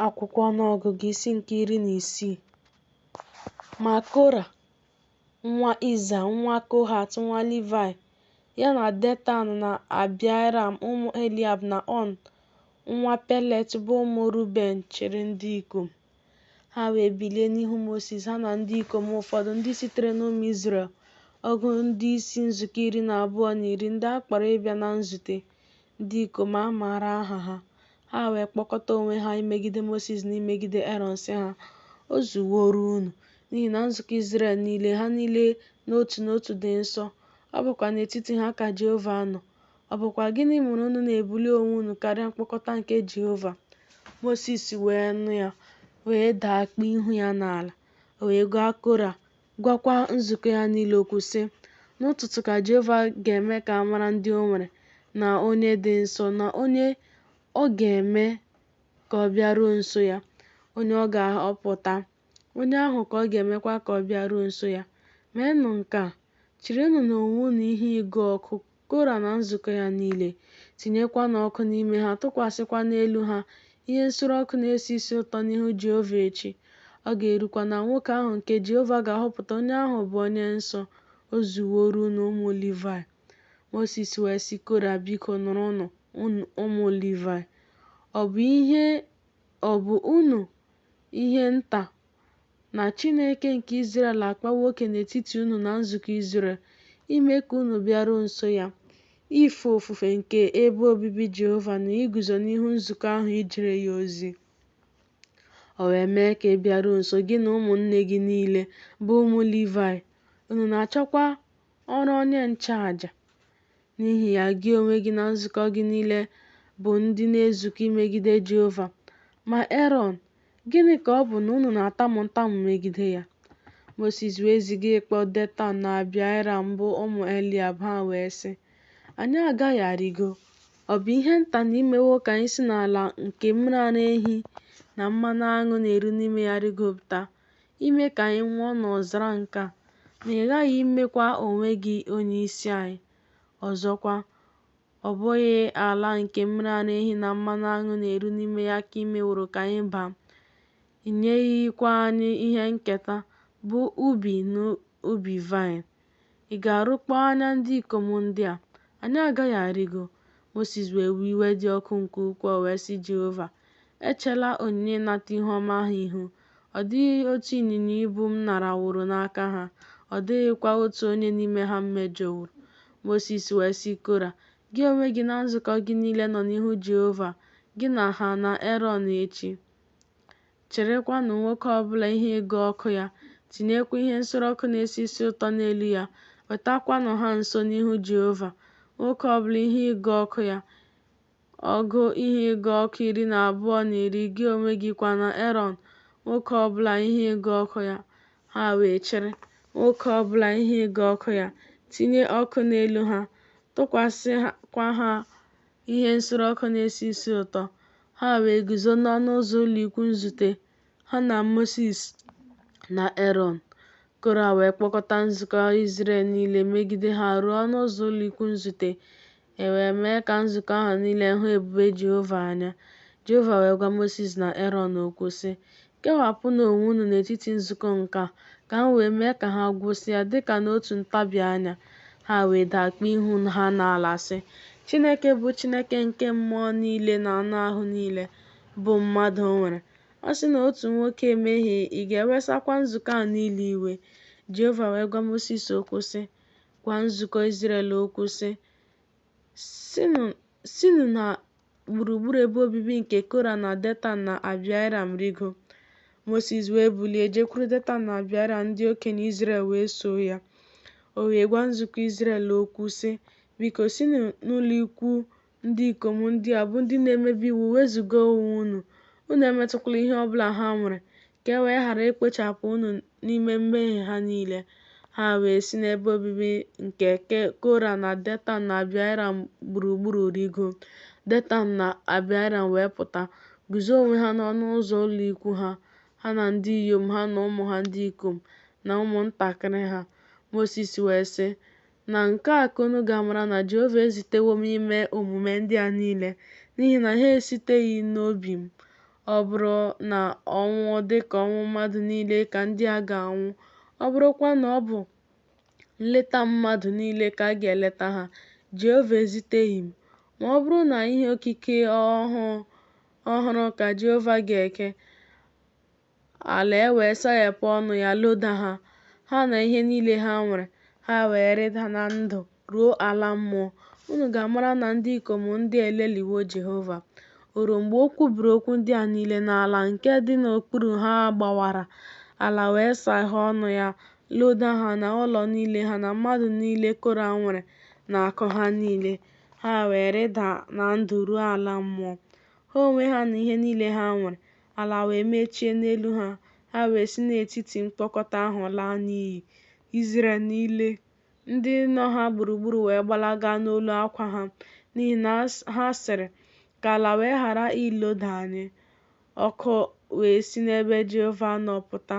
Akwụkwọ Ọnụọgụgụ isi nke iri na isii Ma Kora nwa Iza nwa Kohat nwa Livai ya na Detan na Abiram ụmụ Eliab na On nwa Pelet bụ ụmụ Ruben chịrị ndị ikom. Ha wee bilie n'ihu Mosis ha na ndị ikom ụfọdụ ndị sitere n'ụmụ Izrel ọgụ ndị isi nzukọ iri na abụọ na iri ndị a kpọrọ ịbịa na nzute, ndị ikom a maara aha ha Ha wee kpọkọta onwe ha imegide Mosis na imegide Erọn sị ha, O zuworo unu, n'ihi na nzukọ Izrel niile, ha niile n'otu n'otu dị nsọ, ọ bụkwa n'etiti ha ka Jehova nọ. Ọ bụkwa gịnị mere unu na-ebuli onwe unu karịa mkpọkọta nke Jehova? Mosis wee nụ ya, wee daa kpuo ihu ya n'ala, o wee gwa Kora gwakwa nzukọ ya niile okwu, sị, N'ụtụtụ ka Jehova ga-eme ka a mara ndị o nwere na onye dị nsọ na onye ọ ga-eme ka ọ bịaruo nso ya, onye ọ ga-ahọpụta, onye ahụ ka ọ ga-emekwa ka ọ bịaruo nso ya. Meenụ nke a, chịrịnụ n'onwe unu ihe ịgụ ọkụ Kora na nzukọ ya niile, tinyekwanụ ọkụ n'ime ha, tụkwasịkwa n'elu ha ihe nsure ọkụ na-esi isi ụtọ n'ihu Jehova echi. Ọ ga-erukwa na nwoke ahụ nke Jehova ga-ahọpụta, onye ahụ bụ onye nsọ, o zuworo unu ụmụ Livaị. Mosis wee sị Kora, Biko, nụrụnụ, ụmụ Livaị. Ọ bụ ihe, ọ bụ unu ihe nta na Chineke nke Izrel akpawo oke n'etiti unu na nzukọ Izrel, ime ka unu bịaruo nso ya, ife ofufe nke ebe obibi Jehova na iguzo n'ihu nzukọ ahụ ijere ya ozi. O wee mee ka ị bịaruo nso gị na ụmụnne gị niile bụ ụmụ Livaị, unu na-achọkwa ọrụ onye nchụaja. N'ihi ya, gị onwe gị na nzukọ gị niile bụ ndị na-ezukọ imegide Jehova, ma Erọn Gịnị ka ọ bụ na unu na-atamu ntamu megide ya? Mosis wee ziga ịkpọ Detan na Abiram bụ ụmụ Eliab, ha wee sị, Anyị agaghị arịgo. Ọ bụ ihe nta na i mewo ka anyị si n'ala nke mmiri ara ehi na mmanụ aṅụ na-eru n'ime ya rịgopụta, ime ka anyị nwụọ n'ọzara nke a, ma ị ghaghị imekwa onwe gị onyeisi anyị. Ọzọkwa, Ọ bụghị ala nke mmiri ara ehi na mmanụ aṅụ na-eru n'ime ya ka i meworo ka anyị baa, i nyeghịkwa anyị ihe nketa, bụ ubi na ubi vaịn. Ị ga-arụkpọ anya ndị ikom ndị a? Anyị agaghị arịgo. Mosis wee wee iwe dị ọkụ nke ukwuu, wee sị Jehova, Echela onyinye ịnata ihu ọma ha ihu, Ọ dịghị otu ịnyịnya ibu m naraworo n'aka ha, ọ dịghịkwa otu onye n'ime ha m mejọworo. Mosis wee sị Kora, Gị onwe gị na nzukọ gị niile nọ n'ihu Jehova, gị na ha na Erọn echi. Chịrịkwanụ nwoke ọ bụla ihe ịgụ ọkụ ya, tinyekwa ihe nsure ọkụ na-esi isi ụtọ n'elu ya, wetakwanụ ha nso n'ihu Jehova, nwoke ọ bụla ihe ịgụ ọkụ ya, Ọgụ ihe ịgụ ọkụ iri na abụọ na iri, gị onwe gị kwa na Erọn, nwoke ọ bụla ihe ịgụ ọkụ ya. Ha wee chịrị, nwoke ọ bụla ihe ịgụ ọkụ ya, tinye ọkụ n'elu ha, tụkwasịkwa ha ihe nsure ọkụ na-esi isi ụtọ. Ha wee guzo n'ọnụ ụzọ ụlọikwuu nzute, ha na Mosis na Erọn. Kora wee kpọkọta nzukọ Izrel niile megide ha ruo ọnụ ụzọ ụlọikwuu nzute, E wee mee ka nzukọ ahụ niile hụ ebube Jehova anya. Jehova wee gwa Mosis na Erọn okwu, sị, Kewapụnụ onwe unu n'etiti nzukọ nke a, ka m wee mee ka ha gwụsịa dị ka n'otu ntabi anya. Ha wee daa kpuo ihu ha n'ala, sị, Chineke bụ Chineke nke mmụọ niile na anụ ahụ niile, bụ mmadụ nwere. A sị na otu nwoke emehie, ị ga-ewesakwa nzukọ a niile iwe? Jehova wee gwa Mosis okwu, sị, gwa nzukọ Izrel okwu sị, Sinụ na gburugburu ebe obibi nke Kora na Detan na Abiram rigo. Mosis wee bilie jekwuru Detan na Abiram ndị okenye Izrel wee soo ya. O wee gwa nzukọ Izrel okwu sị, Biko sinụ n'ụlọ ikwu Ndị ikom ndị a bụ ndị na-emebi iwu, wezụga onwe unu, unu emetụkwala ihe ọ bụla ha nwere, ka e wee ghara ikpochapụ unu n'ime mmehie ha niile. Ha wee si n'ebe obibi nke Kora na Detan na Abiram gburugburu rigo. Detan na Abiram wee pụta, guzo onwe ha n'ọnụ ụzọ ụlọ ikwu ha, ha na ndị inyom ha na ụmụ ha ndị ikom na ụmụntakịrị ha. Mosis wee sị, Na nke a ka unu ga-amara na Jehova ezitewo m ime omume ndị a niile, n'ihi na ha esiteghị n'obi m. Ọ bụrụ na ọnwụ dị ka ọnwụ mmadụ niile ka ndị a ga-anwụ, ọ bụrụkwa na ọ bụ nleta mmadụ niile ka a ga-eleta ha, Jehova eziteghị m. Ma ọ bụrụ na ihe okike ọhụụ ọhụrụ ka Jehova ga-eke, Ala wee saghepụ ọnụ ya loda ha, ha na ihe niile ha nwere, ha wee rịda na ndụ ruo ala mmụọ. Unu ga-amara na ndị ikom ndị a elelịwo Jehova. O ruo mgbe o kwubiri okwu ndị a niile na ala nke dị n'okpuru ha gbawara, ala wee saghee ọnụ ya loda ha na ụlọ niile ha na mmadụ niile Kora nwere na akụ ha niile, ha wee rịda na ndụ ruo ala mmụọ, ha onwe ha na ihe niile ha nwere. ala wee mechie n'elu ha, ha wee si n'etiti mkpọkọta ahụ laa n'iyi. Izrel niile, ndị nọ ha gburugburu wee gbalaga n'olu akwa ha, n'ihi na ha sịrị, Ka ala wee ghara iloda anyị. Ọkụ wee si n'ebe Jehova nọ pụta,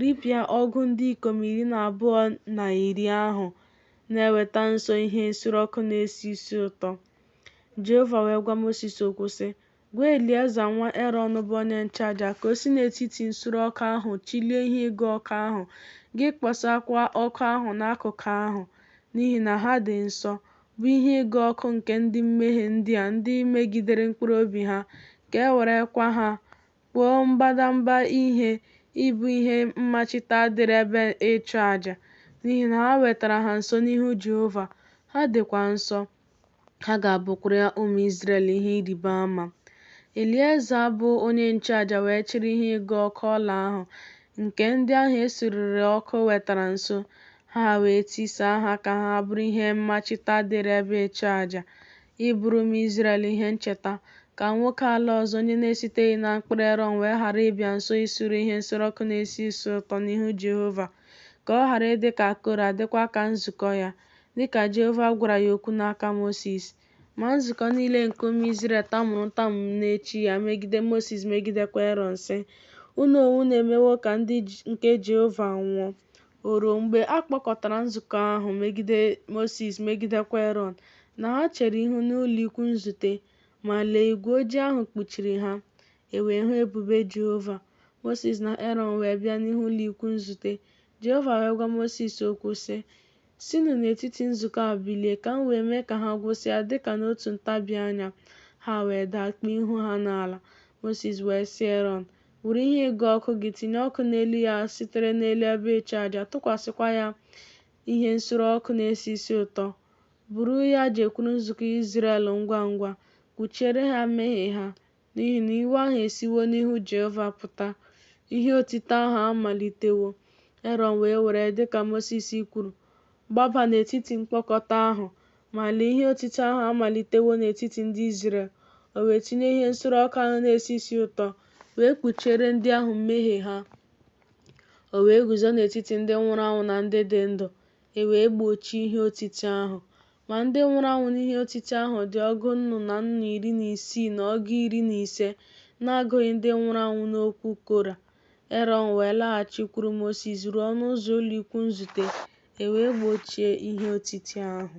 ripịa ọgụ ndị ikom iri na abụọ na iri ahụ na-eweta nso ihe nsure ọkụ na-esi isi ụtọ. Jehova wee gwa Mosis okwu sị, Gwa Elieza nwa Erọn bụ onye nchụaja ka o si n'etiti nsure ọkụ ahụ chịlie ihe ịgụ ọkụ ahụ, gị kposakwa ọkụ ahụ n'akụkụ ahụ, n'ihi na ha dị nsọ, bụ ihe ịgụ ọkụ nke ndị mmehie ndị a ndị megidere mkpụrụ obi ha, ka e werekwa ha kpụọ mbadamba ihe ịbụ ihe mmachita dịrị ebe ịchụ aja, n'ihi na ha wetara ha nso n'ihu Jehova, ha dịkwa nsọ. Ha ga-abụkwara ụmụ Izrel ihe ịrịba ama. Elieza bụ onye nchụaja wee chịrị ihe ịgụ ọkụ ọla ahụ nke ndị ahụ e surere ọkụ wetara nso, ha wee tisaa ha ka ha bụrụ ihe mmachita dịrị ebe ịchụaja, ịbụrụ ụmụ Izrel ihe ncheta, ka nwoke ala ọzọ onye na-esiteghị na mkpụrụ Erọn wee ghara ịbịa nso isure ihe nsure ọkụ na-esi isi ụtọ n'ihu Jehova, ka ọ ghara ịdị ka Kora, dịkwa ka nzukọ ya. dị ka Jehova gwara ya okwu n'aka Mosis. Ma nzukọ niile nke ụmụ Izrel tamuru ntamu n'echi ya megide Mosis megidekwa Erọn, sị, Unu onwe unu emewo ka ndị nke Jehova nwụọ. O ruo mgbe a kpọkọtara nzukọ ahụ megide Mosis megidekwa Erọn na ha chere ihu n'ụlọikwuu nzute, ma, lee, igwe ojii ahụ kpuchiri ha, e wee hụ ebube Jehova. Mosis na Erọn wee bịa n'ihu ụlọikwuu nzute, Jehova wee gwa Mosis okwu, sị, Sinụ n'etiti nzukọ a bilie, ka m wee mee ka ha gwụsịa dị ka n'otu ntabi anya. Ha wee daa kpuo ihu ha n'ala. Mosis wee sị Erọn, Were ihe ịgụ ọkụ gị, tinye ọkụ n'elu ya sitere n'elu ebe ịchụaja, tụkwasịkwa ya ihe nsure ọkụ na-esi isi ụtọ. Buru ya jekwuru nzukọ Izrel ngwa ngwa, kpuchiere ha mmehie ha, n'ihi na iwe ahụ esiwo n'ihu Jehova pụta, ihe otiti ahụ amalitewo. Erọn wee were, dị ka Mosis kwuru, gbaba n'etiti mkpọkọta ahụ, ma lee ihe otiti ahụ amalitewo n'etiti ndị Izrel. O wee tinye ihe nsure ọkụ ahụ na-esi isi ụtọ, wee kpuchiere ndị ahụ mmehie ha. O wee guzo n'etiti ndị nwụrụ anwụ na ndị dị ndụ, e wee gbochie ihe otiti ahụ. Ma ndị nwụrụ anwụ n'ihe otiti ahụ dị ọgụ nnụ na nnụ iri na isii na ọgụ iri na ise, na-agụghị ndị nwụrụ anwụ n'okwu Kora. Erọn wee laghachikwuru Mosis ruo ọnụ ụzọ ụlọikwuu nzute, e wee gbochie ihe otiti ahụ.